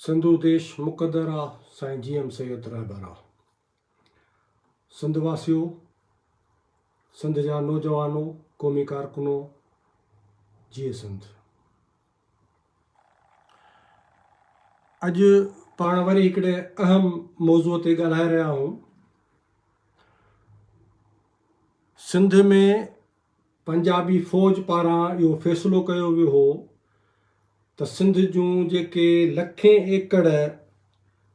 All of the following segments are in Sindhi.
سنڌو ديش مقدر آ سائين جي ايم سيد رهبر آ سنڌ واسيو سنڌ جا نوجوانو قومي ڪارڪنو جيئي سنڌ اڄ پاڻ وري هڪڙي اهم موضوع تي ڳالهائي رهيا آهيون سنڌ ۾ پنجابي فوج پاران اهو فيصلو ڪيو ويو هو ته سنڌ جون جيڪي لکين ايڪڙ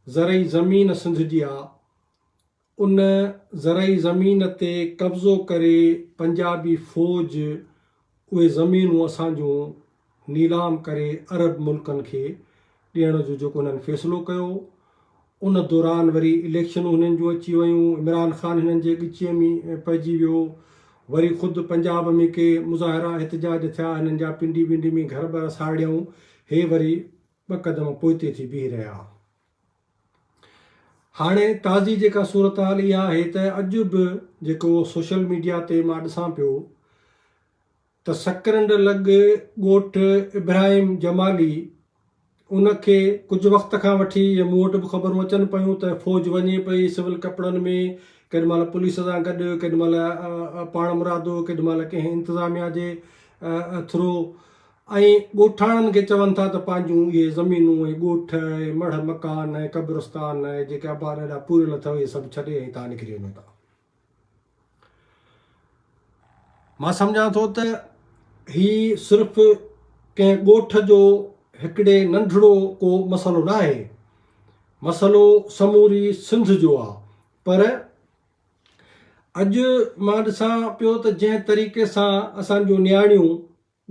زرعي زمين سنڌ جي آ ان زرعي زمين تي قبضو ڪري پنجابي فوج اهي زمينون اسان جون نيلام ڪري عرب ملڪن کي ڏيڻ جو جيڪو هنن فيصلو ڪيو ان دوران وري اليڪشنون هنن جون اچي ويون عمران خان هنن جي ڳچيء ۾ پئجي ويو وري خود پنجاب ۾ ڪي مظاهرا احتجاج ٿيا هنن جا پنڊي ونڊي ۾ گهر بر ساڙيائون هي وري ٻه قدم پوئتي ٿي بيهي رهيا هاڻي تازي جيڪا صورتحال اها آهي ته اڄ به جيڪو سوشل ميڊيا تي مان ڏسان پيو ته سڪرنڊ لڳ ڳوٺ ابراهيم جمالي ان کي ڪجهه وقت کان وٺي ۽ مون وٽ به خبرون اچن پيون ته فوج وڃي پئي سول ڪپڙن ۾ ڪڏهن مهل پوليس سان گڏ ڪڏهن مهل پاڻ مرادو ڪڏهن مهل ڪنهن انتظاميا جي ٿرو ۽ ڳوٺاڻن کي چون ٿا ته پنهنجون اهي زمينون ۽ ڳوٺ ۽ مڙهه مڪان ۽ قبرستان ۽ جيڪي آباد اڏا پوريل اٿئو اهي سڀ ڇڏي ۽ تان نڪري وڃو تان مان سمجهان ٿو ته هي صرف ڪنهن ڳوٺ جو هڪڙي ننڍڙو ڪو مسئلو نه آهي، مسئلو سموري سنڌ جو آ پر اڄ مان ڏسان پيو ته جنهن طريقي سان اسان جون نياڻيون،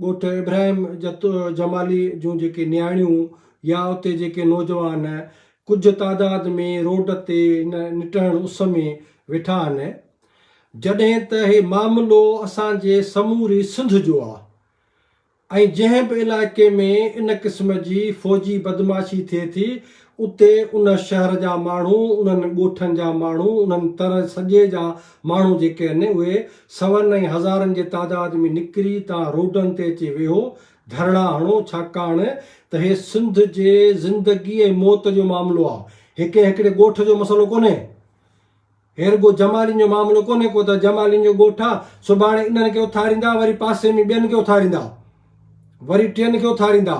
ڳوٺ ابراهيم جتو جمالي جون جيڪي نياڻيون يا اتي جيڪي نوجوان ڪجهه تعداد ۾ روڊ تي هن نٽهڻ اس ۾ ويٺا آهن جڏهن ته هي معاملو اسان جي سموري سنڌ جو آ ۽ جنهن به علائقي ۾ ان قسم جي فوجي بدمعاشي ٿئي ٿي اتي ان شهر جا ماڻهو، انهن ڳوٺن جا ماڻهو، انهن تر سڄي جا ماڻهو جيڪي هن، اهي سون ۽ هزارن جي تعداد ۾ نڪري تان روڊن تي اچي ويهو، ڌرڻا هڻو، ڇاڪاڻ ته هي سنڌ جي زندگي ۽ موت جو معاملو آ، هي ڪنهن هڪڙي ڳوٺ جو مسئلو ڪونهي. هي رڳو جمالين جو معاملو ڪونهي ڪو ته جمالين جو ڳوٺ آ، سڀاڻي انهن کي اٿاريندا، وري پاسي ۾ ٻين کي اٿاريندا، وري ٽين کي اٿاريندا،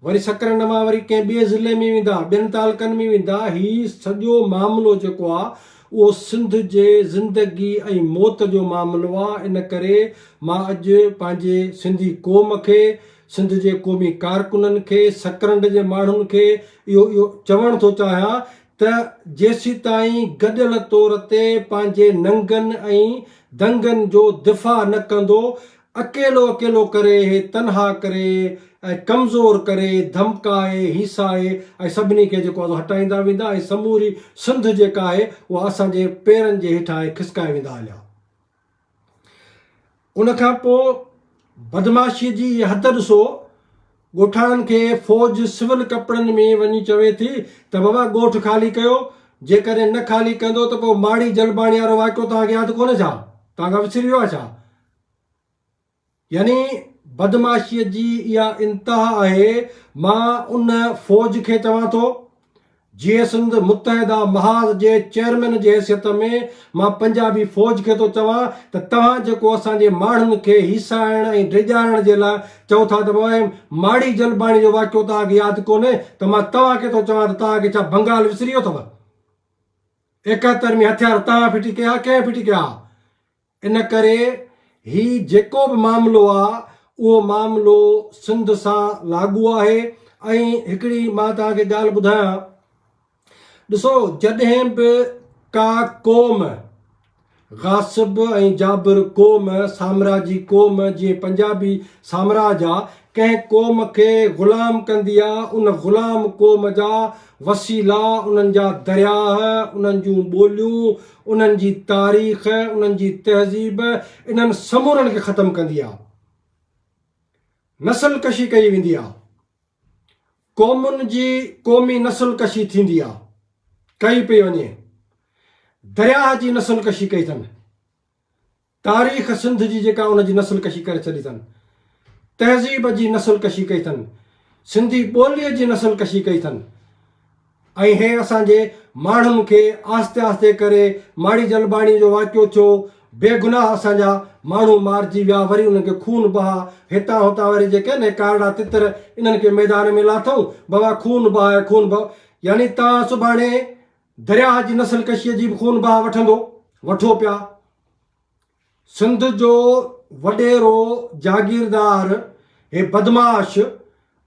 وري سڪرنڊ مان وري ڪنهن ٻئي ضلعي ۾ ويندا، ٻين تعلقن ۾ ويندا، هي سڄو معاملو جيڪو آ اهو سنڌ جي زندگي ۽ موت جو معاملو آ، ان ڪري مان اڄ پنهنجي سنڌي قوم کي، سنڌ جي قومي ڪارڪنن کي، سڪرنڊ جي ماڻهن کي اهو اهو چوڻ ٿو چاهيان ته جيسيتائين گڏيل طور تي پنهنجي ننگن ۽ دنگن جو دفاع نه ڪندو، اڪيلو اڪيلو ڪري، تنها ڪري ۽ ڪمزور ڪري، ڌمڪائي، هيسائي ۽ سڀني کي جيڪو آهي سو هٽائيندا ويندا ۽ سموري سنڌ جيڪا آهي اها اسان جي پيرن جي هيٺانهين کسڪائي ويندا هليا. ان کان پوء بدمعاشيء جي اها حد ڏسو، ڳوٺاڻن کي فوج سول ڪپڙن ۾ وڃي چوي ٿي ته بابا ڳوٺ خالي ڪيو، جيڪڏهن نه خالي ڪندو ته پوء ماڙي جلباڻي وارو واقعو توهان کي ياد ڪونهي ڇا؟ توهان کان وسري ويو آهي ڇا؟ يعني بدمعاشيء جي اها انتها آهي، مان ان فوج کي چوان ٿو، جيئي سنڌ متحده محاذ جي چيئرمين جي حيثيت ۾، مان پنجابي فوج کي ٿو چوان ته توهان جيڪو اسان جي ماڻهن کي هيسائڻ ۽ ڊيڄارڻ جي لاء چئو ٿا ته پوء ماڙي جلباڻي جو واقعو توهان کي ياد ڪونهي ته مان توهان کي ٿو چوان ته توهان کي ڇا بنگال وسري ويو اٿو؟ ايڪهتر ۾ هٿيار توهان ڦٽي ڪيا ها ڪنهن ڦٽي ڪيا ها؟ ان ڪري هي جيڪو به معاملو آ اهو معاملو سنڌ سان لاڳو آهي ۽ هڪڙي مان توهان کي ڳالهه ٻڌايان ڏسو جڏهن به ڪا قوم غاصب ۽ جابر قوم سامراجي قوم جيئن پنجابي سامراج آ ڪنهن قوم کي غلام ڪندي آ ان غلام قوم جا وسيلا انهن جا درياه انهن جون ٻوليون انهن جي تاريخ، انهن جي تهذيب انهن سمورن کي ختم ڪندي آ. نسل ڪشي ڪئي ويندي آ. قومن جي قومي نسل ڪشي ٿيندي آ. ڪئي پئي وڃي. درياهه جي نسل ڪشي ڪئي ٿن. تاريخ سنڌ جي جيڪا ان جي نسل ڪشي ڪري ڇڏي اٿن. تهذيب جي نسل ڪشي ڪئي اٿن. سنڌي ٻوليء جي نسل ڪشي ڪئي اٿن. ۽ هي اسان جي ماڻهن کي آهستي آهستي ڪري ماڙي جلباڻي جو واقعو ٿيو، بي گناهه اسان جا ماڻهو مارجي ويا وري انهن کي خون بها هتان هتان وري جيڪي آهن هي ڪارڙا تتر انهن کي ميدان ۾ لاٿئون بابا خون بهاء خون بهاء يعني توهان سڀاڻي درياهه جي نسل ڪشيء جي به خون بها وٺندو وٺو پيا. سنڌ جو وڏيرو جاگيردار هي بدمعاش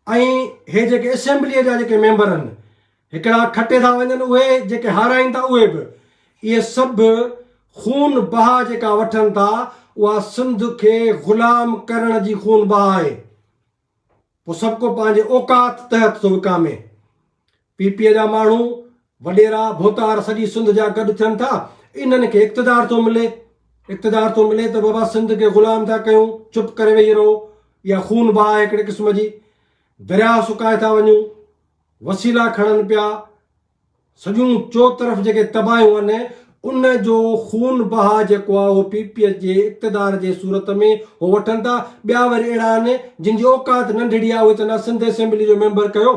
۽ هي جيڪي اسيمبليء جا جيڪي ميمبر آهن هڪڙا کٽي ٿا وڃن اهي جيڪي هارائين ٿا اهي به اهي سڀ خون بها جيڪا وٺن ٿا اها سنڌ کي غلام ڪرڻ جي خون بها آهي پوء سڀ ڪو پنهنجي اوقات تحت ٿو وڪامي. پي پي جا ماڻهو، وڏيرا، ڀوتار سڄي سنڌ جا گڏ ٿين ٿا، انهن کي اقتدار ٿو ملي. اقتدار ٿو ملي ته بابا سنڌ کي غلام ٿا ڪيون، چپ ڪري ويهي رهو. اها خون بهه آهي هڪڙي قسم جي. درياهه سڪائي ٿا وڃون. وسيلا کڻن پيا. سڄون چوطرف جيڪي تباهيون آهن ان جو خون بها جيڪو آهي اهو پي پي ايس جي اقتدار جي صورت ۾ هو وٺن ٿا ٻيا وري اهڙا آهن جن جي اوقات ننڍڙي آهي اهي چون ٿا سنڌ اسيمبلي جو ميمبر ڪيو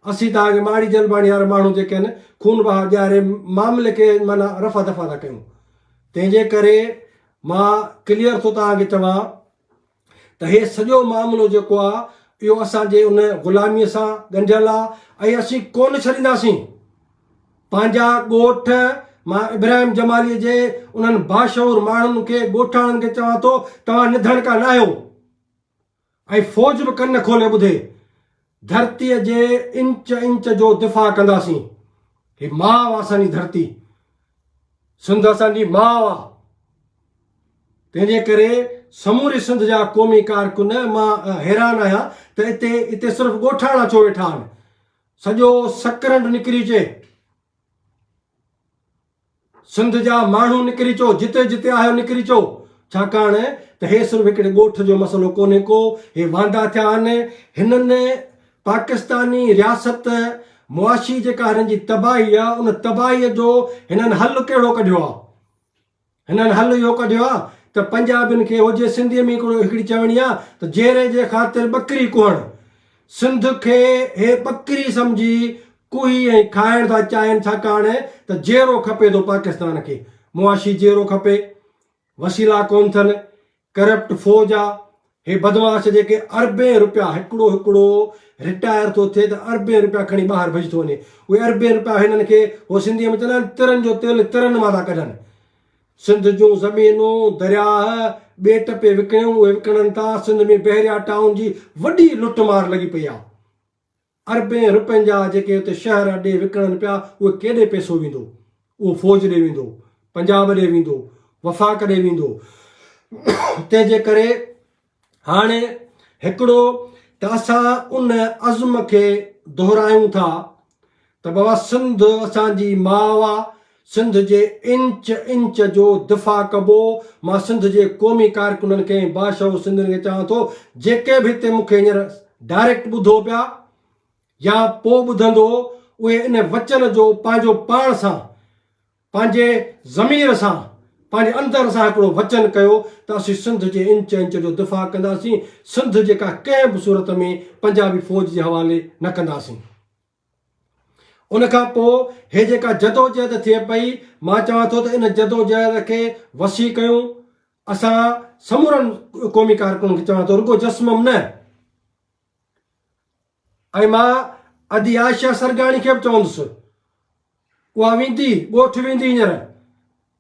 اسين ته هاڻي ماڙي جلباڻي وارا ماڻهو جيڪي آهن خون بها ڏياري معاملي کي معنيٰ رفع دفع ٿا ڪيون تنهنجي ڪري مان ڪليئر ٿو توهان کي چوان ته هي سڄو معاملو جيڪو آ اهو اسان جي ان غلاميء سان ڳنڍيل آ ۽ اسين ڪونه ڇڏينداسين. پنهنجا ڳوٺ، مان ابراهيم جماليء جي انهن باشعور ماڻهن کي ڳوٺاڻن کي چوان ٿو توهان نڌڻڪا ناهيو ۽ فوج به ڪن کولي ٻڌي ڌرتيء جي انچ انچ جو دفاع ڪنداسين. هي ماء اسان جي ڌرتي. سنڌ اسان جي ماء آ. تنهن جي ڪري سموري سنڌ جا قومي ڪارڪن مان حيران آهيان ته اتي اتي صرف ڳوٺاڻا ڇو ويٺا آهن. سڄو سڪرنڊ نڪري اچي. سنڌ جا ماڻهو نڪري چو جتي جتي آهيو نڪري چو ڇاڪاڻ ته هي صرف هڪڙي ڳوٺ جو مسئلو ڪونهي ڪو هي واندا ٿيا آهن هنن پاڪستاني رياست معاشي جيڪا هنن جي تباهي آهي ان تباهي جو هنن حل ڪهڙو ڪڍيو آهي هنن حل اهو ڪڍيو آهي ته پنجابين کي هجي سنڌي ۾ هڪڙي چوڻي آهي ته جيري جي خاطر ٻڪري ڪهڻ سنڌ کي هي ٻڪري سمجهي ڪوهي ۽ کائڻ ٿا چاهين ڇاڪاڻ ته جيئرو کپي ٿو پاڪستان کي معاشي جيئرو کپي وسيلا ڪون ٿن ڪرپٽ فوج آ هي بدمعاش جيڪي اربين روپيا هڪڙو هڪڙو رٽائر ٿو ٿئي ته اربين روپيا کڻي ٻاهر ڀڄي ٿو وڃي اهي اربين روپيا هنن کي هو سنڌي ۾ چوندا آهن ترن جو تيل ترن مان ٿا ڪڍن سنڌ جون زمينون، درياهه، ٻيٽ پئي وڪڻيون اهي وڪڻن ٿا، سنڌ ۾ بحريا ٽائون جي وڏي لٽ مار لڳي پئي آهي، اربين رپين جا جيڪي اتي شهر اڏي وڪڻن پيا اهي ڪيڏي پئسو ويندو، اهو فوج ڏي ويندو، پنجاب ڏي ويندو، وفاق ڏي ويندو، تنهن جي ڪري. هاڻ هڪڙو ته اسان ان عزم کي دهرايون ٿا ته بابا سنڌ اسان جي ماء آ، سنڌ جي انچ انچ جو دفاع ڪبو، مان سنڌ جي قومي ڪارڪنن کي ۽ باشعور سنڌين کي چوان ٿو جيڪي به هتي مون کي هينئر ڊائريڪٽ ٻڌو پيا يا پو ٻڌندو اهي ان وچن جو پنهنجو پاڻ سان پنهنجي ضمير سان، پنهنجي اندر سان هڪڙو وچن ڪيو ته اسين سنڌ جي انچ انچ جو دفاع ڪنداسين، سنڌ جيڪا ڪنهن به صورت ۾ پنجابي فوج جي حوالي نه ڪنداسين. ان کان پوء هي جيڪا جدوجهد ٿئي پئي، مان چوان ٿو ته ان جدوجهد کي وسيع ڪيون، اسان سمورن قومي ڪارڪنن کي چوان ٿو رڳو جسمم نه، ۽ مان ادي عائشه سرگاڻي کي به چوندس، اها ويندي، ڳوٺ ويندي هينئر،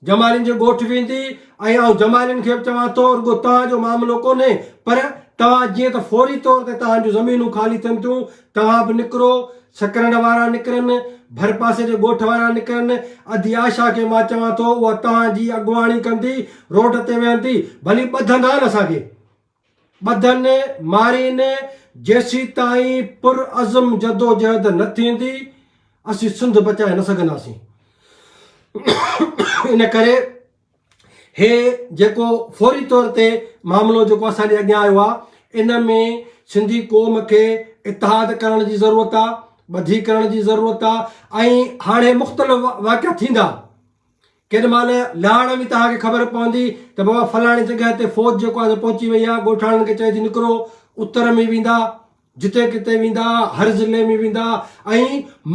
جمالين جي ڳوٺ ويندي ۽ آئون جمالين کي به چوان ٿو رڳو توهان جو معاملو ڪونهي پر توهان جيئن ته فوري طور تي توهان جون زمينون خالي ٿين ٿيون، توهان به نڪرو، سڪرنڊ وارا نڪرن، ڀرپاسي جي ڳوٺ وارا نڪرن، ادي عائشه کي مان چوان ٿو اها توهان جي اڳواڻي ڪندي، روڊ تي ويهندي، ڀلي ٻڌندا نه اسان کي. ٻڌن مارين جيسيتائين پر عزم جدوجهد نه ٿيندي اسين سنڌ بچائي نه سگهنداسين ان ڪري هي جيڪو فوري طور تي معاملو جيڪو اسان جي اڳيان آيو آهي ان ۾ سنڌي قوم کي اتحاد ڪرڻ جي ضرورت آهي ٻڌي ڪرڻ جي ضرورت آهي ۽ هاڻي مختلف واقعا ٿيندا ڪيڏي مهل لهاڻ ۾ توهان کي خبر پوندي ته بابا فلاڻي جڳهه تي فوج جيڪو آهي سو پهچي وئي آهي، ڳوٺاڻن کي چئي ٿي نڪرو، اتر ۾ ويندا، جتي ڪٿي ويندا، هر ضلعي ۾ ويندا ۽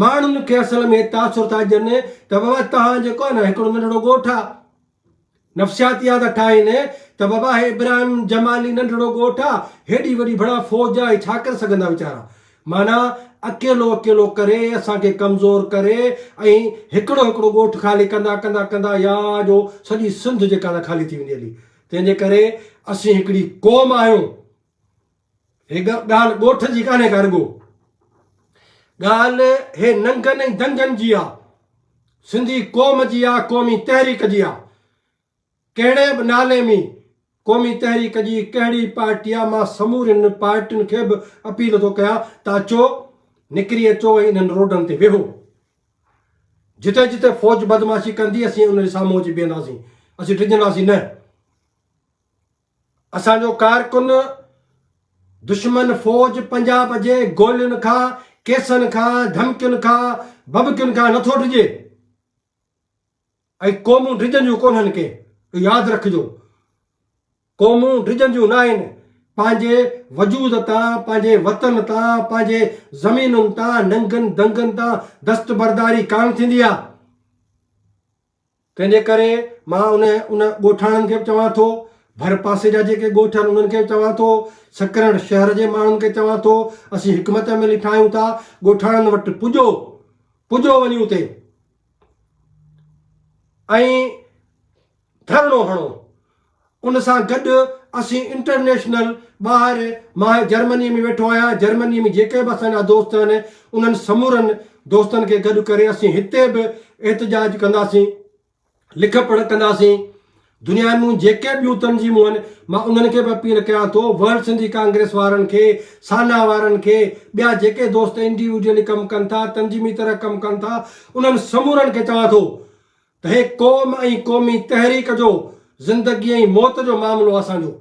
ماڻهن کي اصل ۾ تاثر ٿا ڏين ته بابا توهان جيڪو آهي نه هڪڙو ننڍڙو ڳوٺ آهي، نفسياتيا ٿا ٺاهين ته بابا هي ابراهيم جمالي ننڍڙو ڳوٺ آهي، هيڏي وڏي ڀڻا فوج آهي، هي ڇا ڪري سگهندا ويچارا، معنيٰ اڪيلو اڪيلو ڪري اسان کي ڪمزور ڪري ۽ هڪڙو هڪڙو ڳوٺ خالي ڪندا ڪندا ڪندا يا جو سڄي سنڌ جيڪا نه خالي ٿي ويندي هلي تنهن جي ڪري اسين هڪڙي قوم آهيون هي ڳالهه ڳوٺ جي ڪانهي ڪا رڳو ڳالهه هي ننگن ۽ دنگن جي آ سنڌي قوم جي آ قومي تحريڪ جي آ ڪهڙي به نالي ۾، قومي تحريڪ جي ڪهڙي پارٽي آ، مان سمورين پارٽين کي به اپيل ٿو ڪيان ته اچو، نڪري اچو ۽ انهن روڊن تي ويهو. جتي جتي فوج بدمعاشي ڪندي اسين ان جي سامهون اچي بيهنداسين، اسين ڊڄنداسين نه. اسان جو ڪارڪن دشمن فوج پنجاب جي گولين کان، ڪيسن کان، ڌمڪين کان، ڀڀڪين کان نٿو ڊڄي. اهي قومون ڊڄنديون ڪونهن ڪي ياد رکجو قومون ڊڄنديون ناهن پنهنجي وجود تان پنهنجي وطن تان پنهنجي زمينن تان ننگن دنگن تان دستبرداري ڪانه ٿيندي آ تنهنجي ڪري مان ان ان ڳوٺاڻن کي به چوان ٿو ڀر پاسي جا جيڪي ڳوٺ آهن انهن کي به چوان ٿو سکرڻ شهر جي ماڻهن کي چوان ٿو اسين حڪمت عملي ٺاهيون ٿا ڳوٺاڻن وٽ پڄو پڄو وڃي اتي ۽ ڌرڻو هڻو. ان سان گڏ اسين انٽرنيشنل ٻاهر مان جرمني ۾ ويٺو آهيان جرمني ۾ جيڪي به اسان جا دوست آهن انهن سمورن دوستن کي گڏ ڪري اسين هتي به احتجاج ڪنداسين لک پڙهه ڪنداسين دنيا مون جيڪي ٻيون تنظيمون آهن مان انهن کي به اپيل ڪيان ٿو ورلڊ سنڌي ڪانگريس وارن کي سانا وارن کي ٻيا جيڪي دوست انڊيوڊيلي ڪم ڪن ٿا تنظيمي طرح ڪم ڪن ٿا انهن سمورن کي چوان ٿو ته هي قوم ۽ قومي تحريڪ جو زندگي ۽ موت جو معاملو آهي اسان جو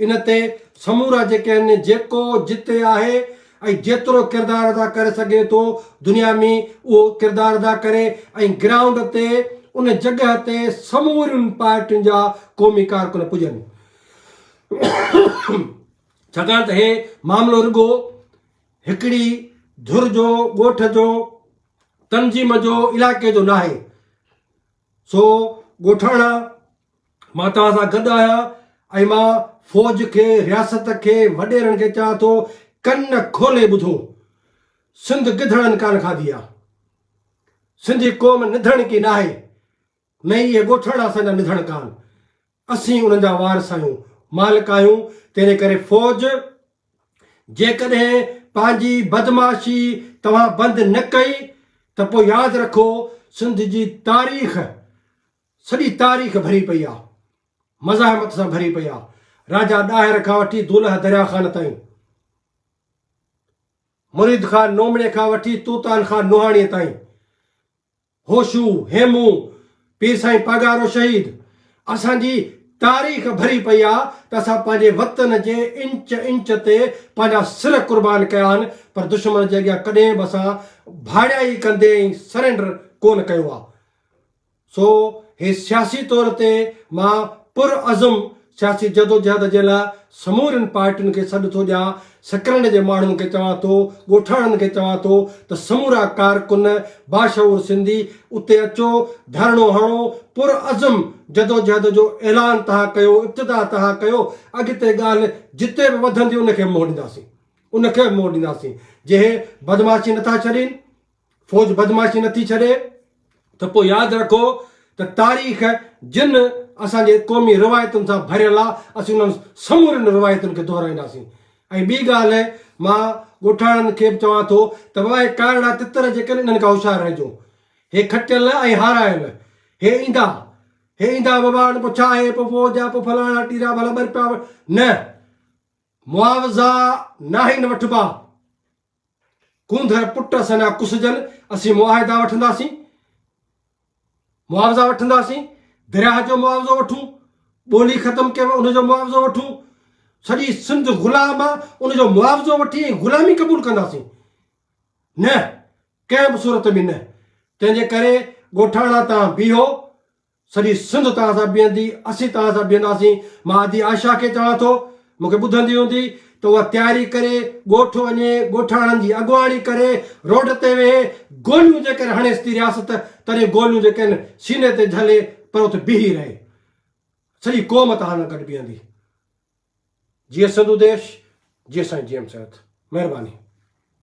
ان تي سمورا جيڪي آهن جيڪو جتي آهي ۽ جيترو ڪردار ادا ڪري سگهي ٿو دنيا ۾ اهو ڪردار ادا ڪري ۽ گرائونڊ تي ان جڳهه تي سمورين پارٽين جا قومي ڪارڪن پڄن ڇاڪاڻ ته هي معاملو رڳو هڪڙي ڌر جو ڳوٺ جو تنظيم جو علائقي جو ناهي سو ڳوٺاڻا مان توهان سان گڏ آهيان ۽ مان فوج کي، رياست کي، وڏيرن کي چوان ٿو ڪن کولي ٻڌو. سنڌ گدڙن ڪانه کاڌي آ. سنڌي قوم نڌڻ ڪي ناهي. نه ئي اهي ڳوٺاڻا اسان جا نڌڻ ڪان. اسين انهن جا وارث آهيون، مالڪ آهيون، تنهنجي ڪري فوج جيڪڏهن پنهنجي بدمعاشي توهان بند نه ڪئي ته پوء ياد رکو سنڌ جي تاريخ سڄي تاريخ ڀري پئي آ مزاحمت سان ڀري پئي آ راجا ڏاهر کان وٺي دولهه دريا خان تائين مريد خان نومڙي کان وٺي توتان خان نوحاڻي تائين هوشو هيمو پير سائين پاڳارو شهيد اسان جي تاريخ ڀري پئي آ ته اسان پنهنجي وطن جي انچ انچ تي پنهنجا سر قربان ڪيا آهن پر دشمن جي اڳيان ڪڏهن به اسان ڀاڙيائي ڪندي ۽ سرينڊر ڪون ڪيو آ سو هي سياسي طور تي مان پرعزم سياسي جدوجهد جي لاء سمورين پارٽين کي سڏ ٿو ڏيان، سڪرنڊ جي ماڻهن کي چوان ٿو، ڳوٺاڻن کي چوان ٿو ته سمورا ڪارڪن باشعور سنڌي اتي اچو، ڌرڻو هڻو، پرعزم جدوجهد جو اعلان تهان ڪيو، ابتدا تهان ڪيو، اڳتي ڳالهه جتي به وڌندي ان کي منهن ڏينداسين، ان کي به منهن ڏينداسين، جي هي بدمعاشي نٿا ڇڏين. فوج بدمعاشي نٿي ڇڏي ته پوء ياد رکو ته تاريخ جن اسان جي قومي روايتن سان ڀريل آ اسين انهن سمورين روايتن کي دهرائينداسين ۽ ٻي ڳالهه مان ڳوٺاڻن کي به چوان ٿو ته واء ڪارڙا تتر جيڪن انهن کان هوشيار رهجو هي کٽيل ۽ هارايل هي ايندا هي ايندا بابا هاڻي پوء ڇا هي پوء فوج آ پوء فلاڻا ٽيرا ڀلا ٻرپيا نه معاوضا ناهن وٺبا. ڪونڌر پٽ اسان جا ڪسجن، اسين معاهدا وٺنداسين، معاوضا وٺنداسين، درياهه جو معاوضو وٺون، ٻولي ختم ڪيو ان جو معاوضو وٺون، سڄي سنڌ غلام آ ان جو معاوضو وٺي ۽ غلامي قبول ڪنداسين. نه ڪنهن به صورت ۾ نه. تنهن جي ڪري ڳوٺاڻا تان بيهو، سڄي سنڌ توهان سان بيهندي، اسين توهان سان بيهنداسين، مان ادي عائشه کي چوان ٿو، مون کي ٻڌندي هوندي ته اها تياري ڪري ڳوٺ وڃي، ڳوٺاڻن جي اڳواڻي ڪري، روڊ تي ويهي، گوليون جيڪڏهن هڻيس ٿي رياست، تڏهن گوليون جيڪڏهن سيني تي جهلي، پر اتي بيهي رهي. سڄي قوم توهان سان گڏ بيهندي. جيئي سنڌو ديش، جيئي سائين جي ايم سيد. مهرباني.